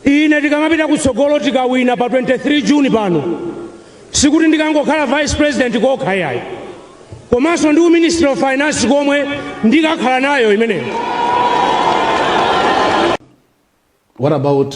ine tikamapita kutsogolo tikawina pa 23 juni pano sikuti ndikangokhala vice president kokha yayi komanso ndi uministry of finance komwe ndikakhala nayo imeneyo What about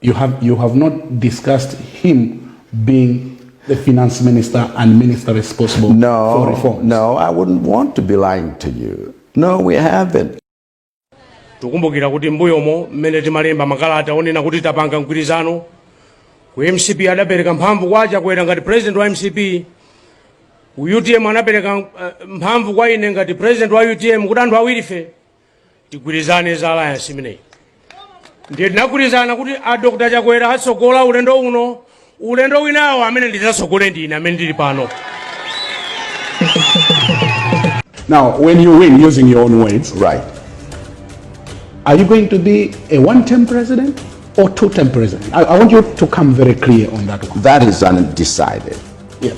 You have, you have not discussed him being the finance minister and minister responsible no, for reforms. No, I wouldn't want to be lying to you. No, we haven't. tikukumbukira kuti mbuyomo mmene timalemba makalata onena kuti tapanga mgwirizano ku mcp adapereka mphamvu kwa chakwera ngati president wa mcp ku utm anapereka eh, mphamvu kwa ine ngati president wa utm kuti anthu awirife tigwirizane za alliance imeneyi ndiye tinagwirizana kuti a dr chakwera atsogola ulendo uno ulendo winawo amene ndidzatsogole ndine amene ndili pano Now, when you win, using your own words, right? Are you going to be a one-term president or two-term president? I, I want you to come very clear on that one. That is undecided. Yeah.